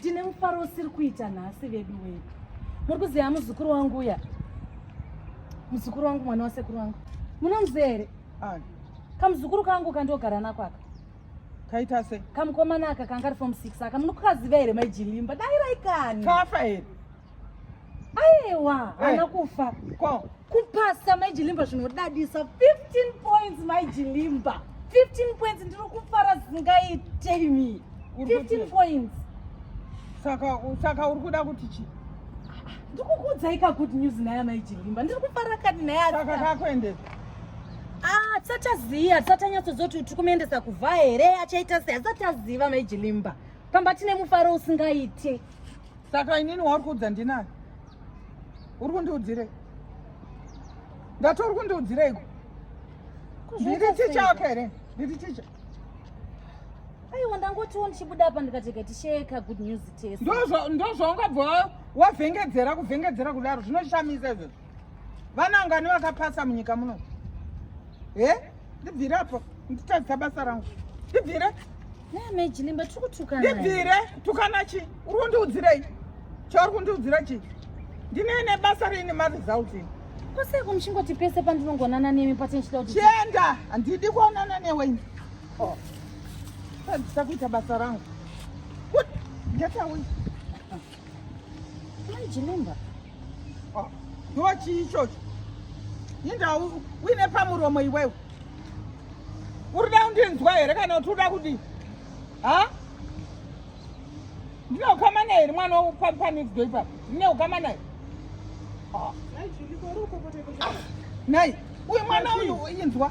Ndine mufaro usiri kuita nhasi vedu wedu. Muri kuziva muzukuru wangu uya? Muzukuru wangu mwana wasekuru wangu. Munomuziva here? Ani. Kamuzukuru kangu kandogara nako aka. Kaita sei? Kamukomana aka kanga ari form 6 aka munokaziva here mai Jilimba? Dai raikani. Kafa here? aiwa eh. haana kufa kupasa maijilimba zvinodadisa 15 points maijilimba 15 points ndiri kufara zingaite imi 15 points saka saka uri kuda kuti chii ndikukuudzai ka good news naye amai chilimba ndiri kufara kani naye asaka kakuendesa ah tisati aziva tisati anyatsoziva kuti tiri kumuendesa kuvha here achaita sei asati aziva amai chilimba pamba tine mufaro usingaite saka inini wauri kuudza ndinani uri kundiudzirei ndati uri kundiudzireiko ndiri ticha wako here ndiri ticha aiwa ndangotiwo ndichibuda apa ndikateka tisheka good news test ndozvaungabva wavhengedzera kuvhengedzera kudaro zvinoshamisa izvozvo vanangani vakapasa munyika muno he ndibvire apo nditadzisa basa rangu ndibvire ndibvire tukana chi uri kundiudzirei chauri kundiudzira chi ndine ne basa riine maresults ini kwasei kumuchingoti pese pandinongonana nemi pati ndichida kuti chienda handidi kuonana newe ini oh. tadzisa kuita basa rangu ndatawi Chilemba. Ah, ndiwo chii ichocho? Inda uine pamuromo iwewe. Uri da kundinzwa here kana kuti uda kudii? Ha? Ndine ukama naye here mwana wepanikidzwa ipapo? Ndine ukama naye? Ah. Nai, uyu mwana uyu inzwa.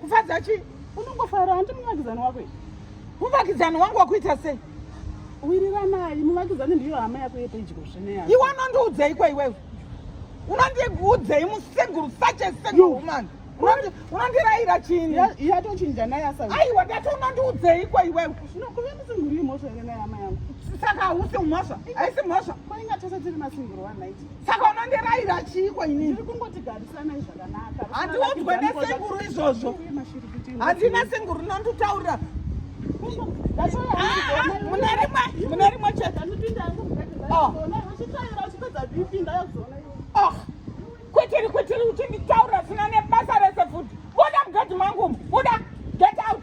kufadza chi unongofara handi muvakidzani wako muvakidzani wangu wakuita sei wiriranai muvakidzani ndiyo hama yako yepedyo zvineya iwe unondiudzei kwa iwewe unondiudzei museguru such a single woman unondiraira chini yatochinja naye asa aiwa ndati unondiudzei kwa iwewe kuve musinguru imhosva here naye hama yangu saka hausi mhosva haisi mhosva kwainga tese tiri masinguru one night saka unondiraira chiiko inini handiudzwe nesenguru izvozvo handina senguru nonditaurira mune rimwe chete oh. oh. kwetiri kwetiri uchinditaurira zvina nebasa rese futi buda mugedhi mangu buda get out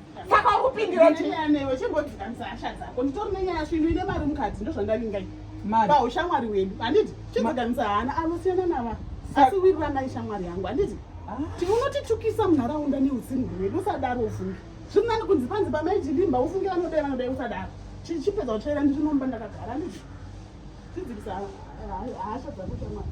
Saka ukupindira chii? Newe chimbodzikamisa hasha dzako. Nditori nenyaya svinu ine mari mukati ndozvandavinga ini. Mari. Ba ushamwari wedu. Handiti chimbodzikamisa hana anosiyana nava. Asi wiriranai shamwari yangu. Handiti ah. tiunotitukisa munharaunda neutsinhu hwedu usadaro ufunge. Zviri nani kunzi panzi pamaijidimba ufunge vanodai vanodai usadaro. Chipedza kutsvaira ndiri nomba ndakagara handiti. Tidzikisa hasha dzako shamwari.